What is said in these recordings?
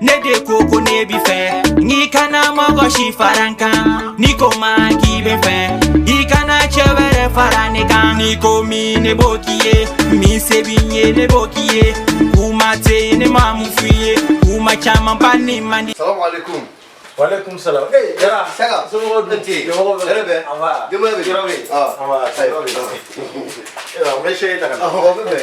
ne de ko ko ne b'i fɛ i kana mɔgɔ si fara n kan ni ko ma k'i bɛ fɛ i kana cɛ wɛrɛ fara ne kan ni ko min ne b'o k'i ye min se b'i ye ne b'o k'i ye kuma tɛ ne ma mun f'i ye kuma caman ba nin man di Salam alaikum. Waalaikum salam. Eh, Jara. Saka. Somɔgɔw dun? Nti. Somɔgɔw bɛ? Hɛrɛ bɛ? An b'a. Denbaya bɛ? Jara bɛ? Ah. An b'a. Ayi. Jara bɛ? Eh, an bɛ se taa ka na. Awɔ, o bɛ bɛn.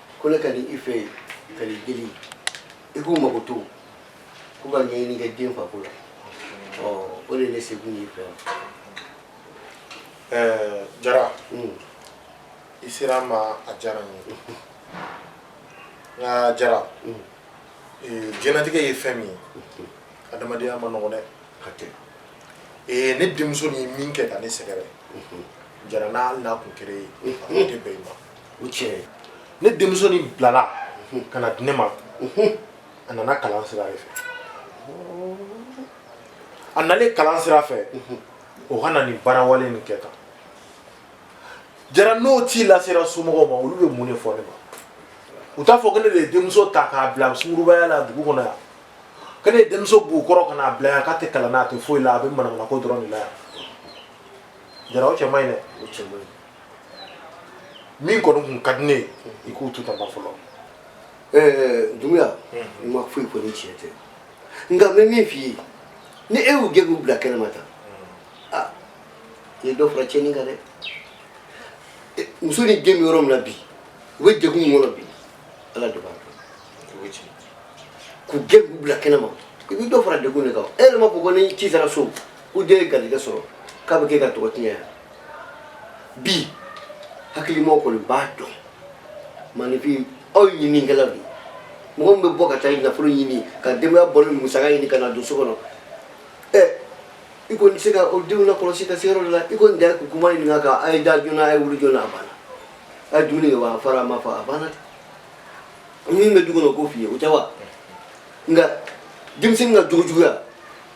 ko ne ka na i fɛ ka n'i deli i k'u makoto k'u ka ɲɛɲini kɛ den fako la ɔ o de ye ne sekun y'i fɛ yan jara i sera n ma a diyara n ye n ka jara diɲɛlatigɛ ye fɛn min ye adamadenya man nɔgɔ dɛ ne denmuso nin min kɛ ka ne sɛgɛrɛ jara n'a n'a kun kere ye a tɛ bɛn i ma o tiɲɛ ne denmuso nin bilala ka na di ne ma a nana kalan sira de fɛ a nalen kalan sira fɛ o ka na nin baarawale nin kɛ tan jara n'o ci lasera somɔgɔw ma olu bɛ mun de fɔ ne ma u t'a fɔ ko ne de ye denmuso ta k'a bila sungurubaya la dugu kɔnɔ yan ko ne ye denmuso b'u kɔrɔ ka n'a bila yan k'a tɛ kalan na a tɛ foyi la a bɛ manamanako dɔrɔn de la yan jara o cɛ man ɲi dɛ min kɔni kun ka di ne ye i k'u to tan fɔlɔ ɛɛ dunbuya i ma foyi fɔ ni tiɲɛ tɛ nka n bɛ min f'i ye ni e y'u gɛn k'u bila kɛnɛma tan a i ye dɔ fara tiɲɛni kan dɛ muso ni den bɛ yɔrɔ min na bi u bɛ degun min kɔnɔ bi ala de b'a dɔn k'u gɛn k'u bila kɛnɛma i bɛ dɔ fara degun de kan e yɛrɛ m'a fɔ ko ni ci sera so ko den ye garijɛgɛ sɔrɔ k'a bɛ kɛ ka tɔgɔ tiɲɛ yan bi hakilimɔgɔ kɔni b'a dɔn maaninfin aw ye ɲininikɛla don mɔgɔ min bɛ bɔ ka taa nafolo ɲini ka denbaya bɔlen musaka ɲini ka n'a don so kɔnɔ ɛ i kɔni tɛ se ka o denw lakɔlɔsi ka se yɔrɔ dɔ la i kɔni da kuma ɲininka ka a ye da joona a ye wuli joona a banna a ye dumuni kɛ wa a fara a ma fa a banna min bɛ du kɔnɔ o k'o f'i ye o tɛ wa nka denmisɛnnin ka jogojuguya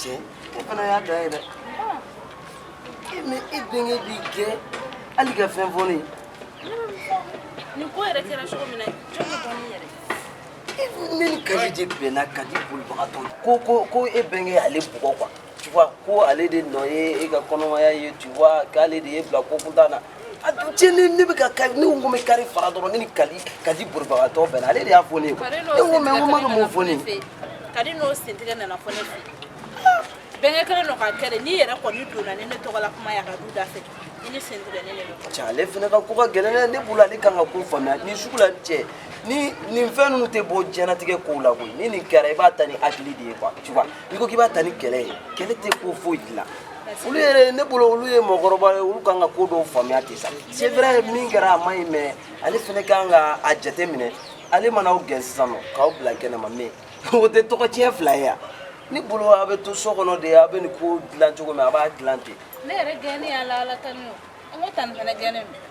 cɛ e fana y'a dan ye dɛ e mais e bɛnkɛ b'i gɛn hali ka fɛn fɔ ne ye nin ko yɛrɛ kɛra cogo min na jɔn bɛ bɔ min yɛrɛ ne ni kaji de bɛnna kaji bolibagatɔ ko ko ko e bɛnkɛ y'ale bugɔ quoi tu vois ko ale de nɔ ye e ka kɔnɔmaya ye tu vois k'ale de y'e bila ko kuntan na a dun cɛ ne ne bɛ ka ka ne ko bɛ kari fara dɔrɔn ne ni kali kadi bolibagatɔ bɛnna ale de y'a fɔ ne ye ne ko mɛ n ko ma bɛ mun fɔ ne ye kadi n'o sentigɛ nana fɔ ne fɛ bɛnkɛ kelen dɔ ka kɛ de n'i yɛrɛ kɔni donna ni ne tɔgɔla kuma y'a ka du da fɛ i ni sentigɛ ne de don cɛ ale fana ka ko ka gɛlɛn dɛ ne bolo ale kan ka ko faamuya nin sugu la cɛ ni nin fɛn ninnu tɛ bɔ diɲɛnatigɛ kow la koyi ni nin kɛra i b'a ta ni hakili de ye quoi tu vois n'i ko k'i b'a ta ni kɛlɛ ye kɛlɛ tɛ ko foyi dilan olu yɛrɛ ne bolo olu ye mɔgɔkɔrɔba ye olu kan ka ko dɔw faamuya ten sa c'est vrai min kɛra a ma ɲi mais ale fɛnɛ kan ka a jate minɛ ale mana aw gɛn sisan nɔ k'aw bila kɛnɛma mais o tɛ tɔgɔtiɲɛ fila ye yan ne bolo a bɛ to so kɔnɔ de a bɛ nin ko dilan cogo min a b'a dilan ten ne yɛrɛ gɛnnen y'a la ala tanu an ko tanti fana gɛnnen don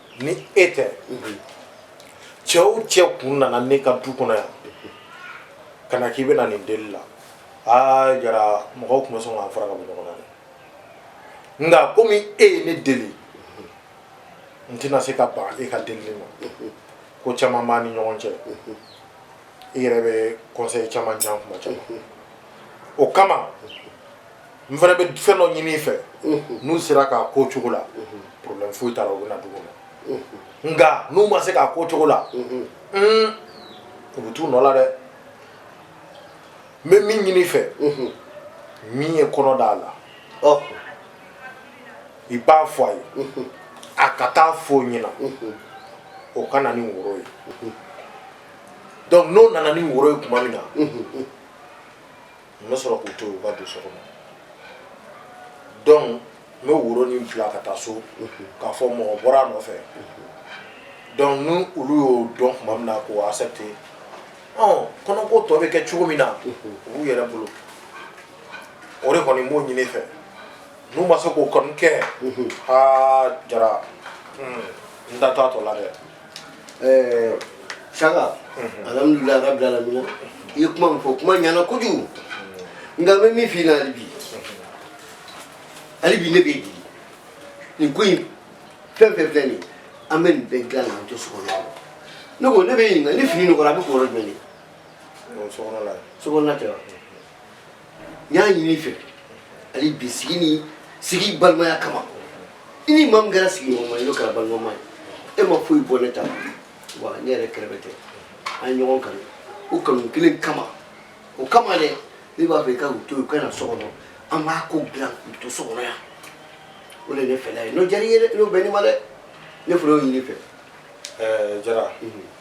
ni e tɛ cɛ o cɛ kun nana ne ka du kɔnɔ yan ka na k'i bɛna nin deli la aa jara mɔgɔw tun bɛ sɔn k'an fara ka bɔ ɲɔgɔn na dɛ nka komi e ye ne deli n tɛna se ka ban e ka delili ma ko caman b'an ni ɲɔgɔn cɛ i yɛrɛ bɛ conseil caman di an tuma caman o kama n fana bɛ fɛn dɔ ɲini i fɛ n'u sera k'a k'o cogo la problème foyi t'a la u bɛ na du kɔnɔ nka n'u ma se k'a k'o cogo la u bɛ t'u nɔ la dɛ n bɛ min ɲini i fɛ min ye kɔnɔ d'a la i b'a fɔ a ye a ka taa fɔ ɲɛna o ka na ni woro ye donc n'o nana ni woro ye tuma min na n bɛ sɔrɔ k'u to yen u ka don so kɔnɔ donc n bɛ woro nin bila ka taa so k'a fɔ mɔgɔ bɔra a nɔfɛ donc ni olu y'o dɔn tuma min na k'o accepte ɔ kɔnɔko tɔ bɛ kɛ cogo min na o b'u yɛrɛ bolo o de kɔni n b'o ɲini i fɛ n'u ma se k'o kɔni kɛ aa jara n da t'a tɔ la dɛ ɛɛ saga alhamdulilayi rabi alamina i ye kuma min fɔ kuma ɲana kojugu nka n bɛ min f'i la hali bi hali bi ne b'i deli nin ko in fɛn o fɛn filɛ nin an bɛ nin bɛɛ dilan k'an to sokɔnɔ ne ko ne b'i ɲininka ni fini nɔgɔra a bɛ ko yɔrɔ jumɛn de sokɔnɔna tɛ wa n y'a ɲini i fɛ hali bi sigi ni sigi balimaya kama i ni maa min kɛra sigiɲɔgɔnma ye n'o kɛra balimama ye e ma foyi bɔ ne ta la wa ne yɛrɛ kɛrɛbɛtɛ an ye ɲɔgɔn kanu o kanu kelen kama o kama dɛ ne b'a fɛ i ka u to yen u ka na so kɔnɔ an b'a ko dilan k'u to so kɔnɔ yan o de ye ne fɛla ye n'o diyara i ye dɛ n'o bɛnn'i ma dɛ ne fana y'o ɲini i fɛ ɛɛ jara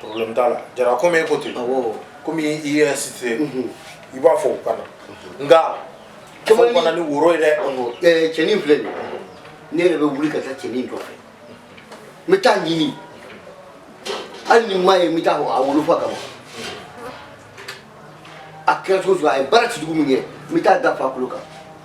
problème t'a la jara komi e ko ten komi i ye insisté i b'a fɔ u ka na nka fɛn fana ni woro ye dɛ cɛnin filɛ nin ne yɛrɛ bɛ wuli ka taa cɛnin nɔfɛ n bɛ t'a ɲini hali ni n m'a ye n bɛ taa a wolofa kama a kɛra cogo o cogo a ye baara jugu min kɛ n bɛ t'a da a fa kolo kan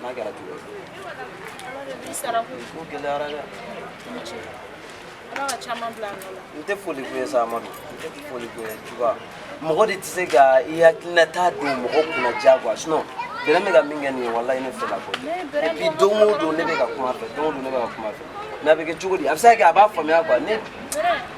N'a kɛra cogo gɛlɛyara dɛ n tɛ foli ko ye sa amadu n tɛ foli ko ye juba mɔgɔ de tɛ se ka i hakilinata don mɔgɔ kun na diyagoya sinɔn bɛrɛ bɛ ka min kɛ nin ye walayi ne fɛla ko et puis don o don ne bɛ ka kuma fɛ don o don ne bɛ ka kuma fɛ mais a bɛ kɛ cogo di a bɛ se ka kɛ a b'a faamuya quoi ne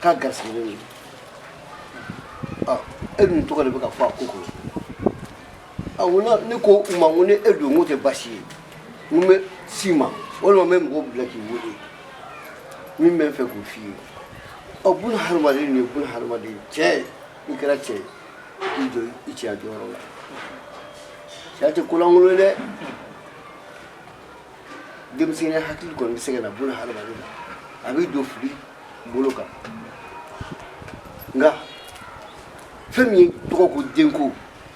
k'a garisigɛlen don ɔ e dun tɔgɔ de bɛ ka fɔ a ko kɔnɔ ɔ n ko ne ko u ma n ko ni e don n k'o tɛ baasi ye n ko n bɛ s'i ma walima n bɛ mɔgɔw bila k'i wele min bɛ n fɛ k'o f'i ye ɔ buna hadamaden nin ye buna hadamaden cɛ ye i kɛra cɛ ye i jɔ i cɛya jɔyɔrɔ la cɛya tɛ ko lankolon ye dɛ denmisɛnninya hakili kɔni bɛ se ka na buna hadamaden na a b'i don fili bolo kan nka fɛn min ye tɔgɔ ko denko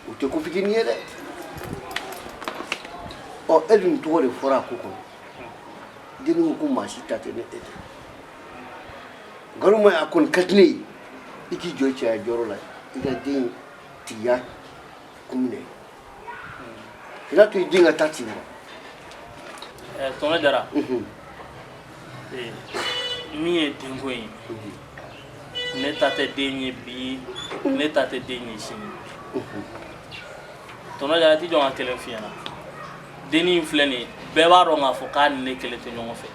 o tɛ ko fitinin ye dɛ ɔ e dun tɔgɔ de fɔra a ko kɔnɔ denni ko ko maa si ta tɛ ni e tɛ nkalon ma a kɔni ka di ne ye i k'i jɔ cɛya jɔyɔrɔ la i ka dentigiya kun minɛ N'a to i den ka taa ci wa tɔnɔ jara min ye denko ye ne ta tɛ den ye bi ne ta tɛ den ye sini tɔnɔ jara a tɛ jɔn ka kɛlɛ fiɲɛ na dennin in filɛ nin ye bɛɛ b'a dɔn k'a fɔ k'a ni ne kelen tɛ ɲɔgɔn fɛ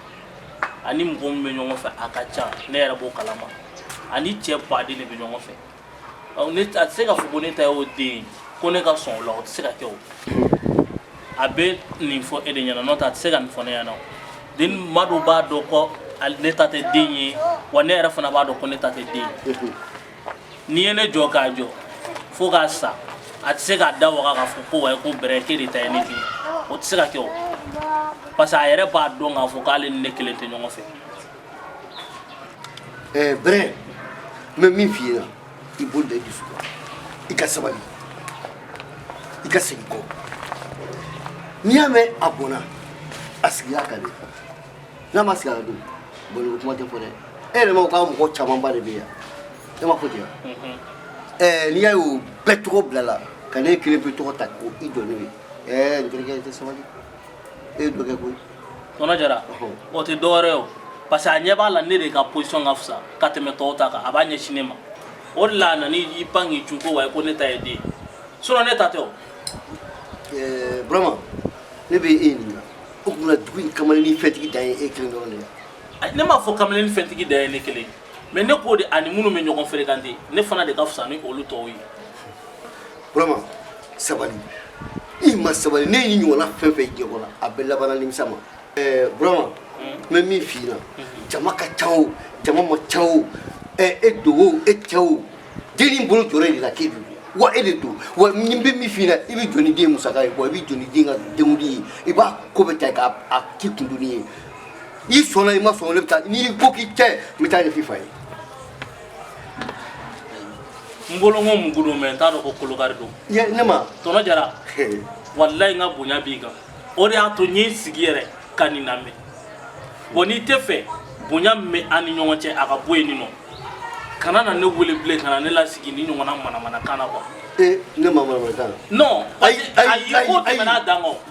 a ni mɔgɔ min bɛ ɲɔgɔn fɛ a ka ca ne yɛrɛ b'o kalama a ni cɛ baden de bɛ ɲɔgɔn fɛ ne a tɛ se ka fɔ ko ne ta y'o den ko ne ka sɔn o la o tɛ se ka kɛ o a bɛ nin fɔ e de ɲɛna n'o tɛ a tɛ se ka nin fɔ ne ɲɛna o den maa dɔw b'a dɔn ko ne ta tɛ den ye wa ne yɛrɛ fana b'a dɔn ko ne ta tɛ den ye n'i ye nin jɔ k'a jɔ fo k'a sa a tɛ se k'a da waga k'a fɔ ko wayi ko bɛrɛ k'e de ta ye ne den o tɛ se ka kɛ o parce que a yɛrɛ b'a dɔn k'a fɔ k'ale ni ne kelen tɛ ɲɔgɔn fɛ ɛɛ brɛ n bɛ min f'i ye i bolo da i dusu kan i ka sabali i ka segin kɔ n'i y'a mɛn a bɔnna a sigiya ka di n'a ma sigi a la dun bɔnni ko kuma tɛ fɔ dɛ e yɛrɛ ma ko k'a mɔgɔ camanba de bɛ yan e ma fɔ ten wa ɛɛ n'i y'a ye o bɛɛ tɔgɔ bilala ka ne kelen pe tɔgɔ ta ko i jɔ n'o ye ɛɛ n terikɛ i tɛ sabali e ye dɔ kɛ koyi tonton jara o tɛ dɔwɛrɛ ye o parce que a ɲɛ b'a la ne de ka position ka fisa ka tɛmɛ tɔw ta kan a b'a ɲɛsin ne ma o de la a nana i pan k'i cun ko wa ko ne ta ye den sinon ne ta tɛ o eh, burama ne bɛ e ɲininka o tuma dugu in kamalennin fɛntigi dan ye e kelen dɔrɔn de ye ne m'a fɔ kamalennin fɛntigi dan ye ne kelen mais ne k'o de ani minnu bɛ ɲɔgɔn fréquenter ne fana de ka fisa ni olu tɔw ye burama sabali i ma sabali ne y'i ɲɔgɔnna fɛn fɛn jɛkɔ la a bɛ labanna nimisa ma eh, burama n bɛ min f'i ɲɛna jama ka ca o jama man ca o eh, e don o e tɛ o dennin bɔlen jɔn de la k'e don wa e de don wa n bɛ min f'i ɲɛna i bɛ jɔ ni den musaka ye bon i bɛ jɔ ni den ka denkundi ye i b'a ko bɛɛ ta k'a k'i kundoni ye i sɔnna i ma sɔn ne bɛ taa n'i ko k'i tɛ n bɛ taa a ɲɛf'i fa ye n bolo ko mugu don mais n t'a dɔn ko kolokari don yɛ ne ma tonton jara walayi n ka bonya b'i kan o de y'a to n ye n sigi yɛrɛ ka nin lamɛn wa n'i t'a fɛ bonya min bɛ an ni ɲɔgɔn cɛ a ka bɔ yen nin kɔ kana na ne wele bilen kana ne lasigi nin ɲɔgɔnna manamanakan na quoi ee ne ma manamanakan na non ayi ayi ayi ko tɛmɛna a dan kan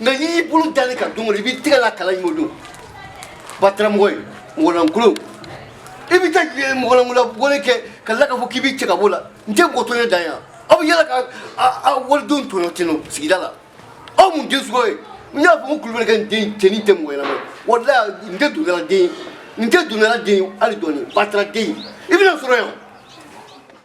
nka n'i y'i bolo da ne kan don o don i b'i tɛgɛ la kalan in o don bataramɔgɔ ye mɔgɔlankolon i bɛ taa mɔgɔlankolabɔli kɛ ka tila k'a fɔ k'i b'i cɛ ka bɔ o la n tɛ mɔgɔ tɔɲɔ dan yan aw bɛ yala ka walidenw tɔɲɔ ten nɔ sigida la aw mun den suguya ye n y'a fɔ ko kulubali ka dencɛ nin tɛ mɔgɔ ɲɛnama ye walayi n tɛ dundala den ye n tɛ dundala den ye hali dɔɔni batara den ye i bɛna sɔrɔ yan